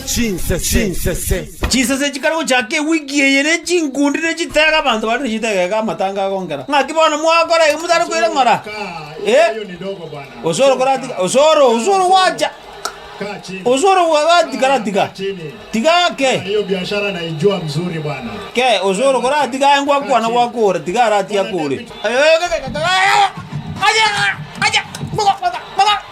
Chinsese. Chinsese chikare gochaka ewiki eye ne chinkundi ne chitege abanto bare ne chitege iga amatanga agongera. Ng'aki bono mwakora ege motare koira ng'ora? Eh? Osoro koratiga osoro osoro gwacha. Osoro gwa gatiga ratiga. Tiga ke. Ke osoro koratiga aye ngwakwana gwakora tiga aratiga kore.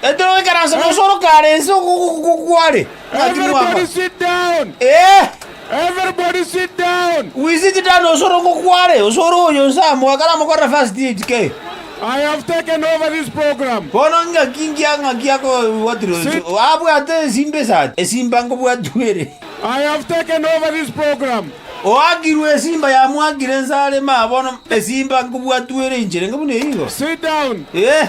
Petero agaikaransa omosoro kare ense okoboko kware ngaki mwaba. Ee, we sit down osore okoboko kware, osore oyo onse amo, akaramokorera first aid ke. Bono ngaki ngiya ngaki akobwatirwe ense, abwate esimba esati, esimba nkobwatigwa ere. Oakirwe esimba yamwakire ense are, maya bono esimba nkobwatigwa ere inchere inga buna eyio igo. Ee.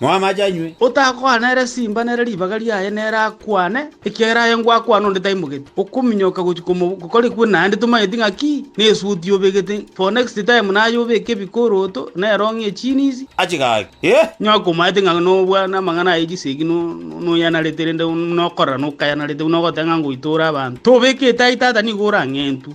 Moe amache anywe. Otakwana ere simba nere ribaga riaye nere akwane, ekiagera aye ngwakwana onde taimogeti. Okominyoka gochia komobu gokorekwe naende tomanyeti ng'a ki, na esuti obegete, for next time naye obeke ebikoroto, na erong'i echini izi, Achigaki. Onye akomaete ng'a nobua namang'ana aye chisegi no noyanarete rende nokorera nokayanarete buna ogoteba ng'a ngoitora abanto, tobeke etai tata nigo orang'entwe.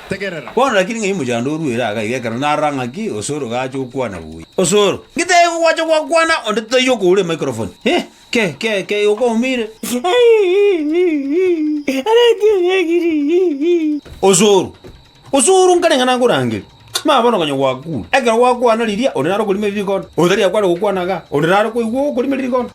Tegerera! Bono rakiri ng'ai mochando oruere aka iga ekero narora ng'aki Osoro gacha gokwana buya? Osoro, Ngetebie igo gwacha gwakwana onde totaiyo koura emicrophone. Heh, ke, ke, ke, igo kwaumire. Osoro, Osoro nkare ng'a nakorangerie. Mama bono konya gwakure. Ekero gwakwana riria, onde naro okorima eririkonda. Oyo tari akware gokwana igaa, onde naro koigwa okorima eririkonda.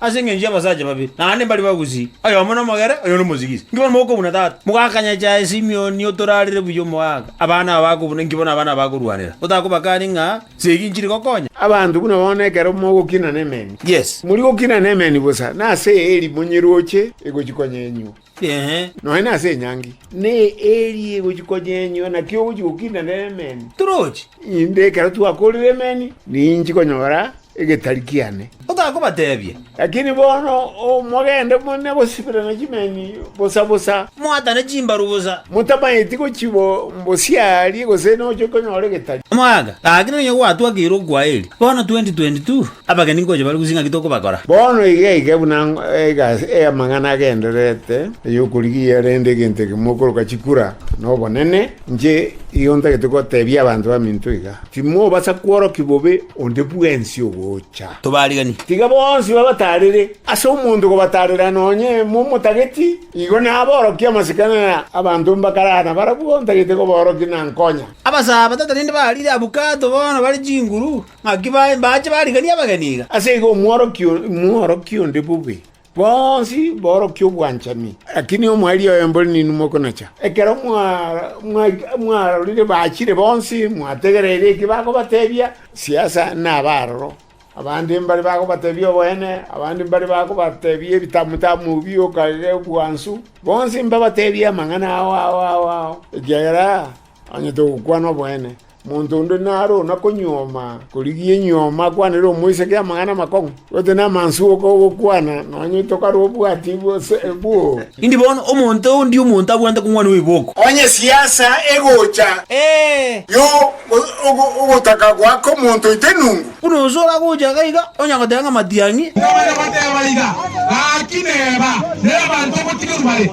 Ase engencho y'abasacha babere, naende mbari bagusii, oyomo nomogere, oyonde omosigisi. Inki bono mokobu na tata? Mogakanya chaye Simioni otorarire buya omogaka. Abana aba bakobu ninki bono abana aba bakorwanera? Otakobakani ng'a segi inchiri gokonya? Abanto buna bono ekero mogokina nemeni, yes, mori gokina nemeni bosa, nase eri monyeroche egochikonya enywo. Ee. Nonya nase enyangi. Ne eeri egochi konya enyio, naki ogochi gokinda nere emeni. Toroche. Inde ekero twakorire emeni, ninchi konyora egetari kiane. Otakobatebia. Lakini bono mogende mone gosiberana chimeni bosa bosa. Moatane chimbaru bosa. Motamanyeti gochi bo mbosiarie, gose noche konyora egetari. Omwaka, gaki nonya gwatwakeire okwaeri. Bono 2022. Abageni ngocha bare gusing'a ki tokobakora? Bono iga iga buna egasi amang'ana agendererete, ey'okorigia rende egento ekemo okoroka chikura nobonene, inche igo ntagete gotebia abanto baminto iga, Timobasa kworokia bobe onde bwensi ogocha. Tobarigani. Tiga bonsi babatarere. Ase omonto kobatarera nonye momotageti, igo naborokie amasikani aya abanto mbakarana barabwo ntagete kobaorokia na nkonya. Abasaabata tarende barire abwo kato bono bare chinguru. Naki baye mbache barigani abageni iga. Ase igo omworokia oria n'omworokia onde bobe, bonsi borokia obwanchani. Lakini omwerio oye mbore ninwe mokonacha. Ekero mwarorire bachire bonsi, mwategereire eki bakobatebia, siasa nabe aroro. Abande mbare bakobatebia oboene, abande mbare bakobatebia ebitamu tamu bi okarere obwansu. Bonsi mbabatebie amang'ana ao ao ao ao, ekiagera Onye togokwana oboene, monto onde naro ona konyuoma korigia enyuoma akwanere omoiseke amang'ana amakong'u, gose namansu okogokwana nonye tokare obwati gose bwoo. Indi bono omonto ondi omonto abwate kong'wana oiboko. Onye esiasa egocha, yo ogotaka goaka omonto oite nungu. Buna onsi oragocha iga iga, onya goteba ng'a matiang'i. Nabana bateba iga, Gaki neba, nere abanto obotigwe mbare.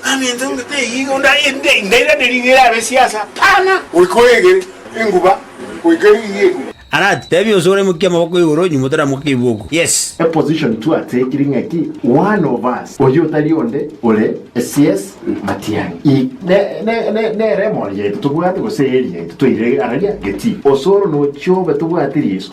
Ng'ana intwe ngete igo nda inde ndairane ring'o erabe siasa pana. Goika oegere enguba goika ring'o enguba. Alert, tebia onsi oraimokie amaboko igoro nyuma otaramoke keibuoku. Yes. A position tu ateeti ring'aki one of us oyio otari onde ore sies Matiang'i. I ne ne ne nere emori yaito tobwate gose eeri yaito toirege araria getii. Osoro nochiobe tobwati riso.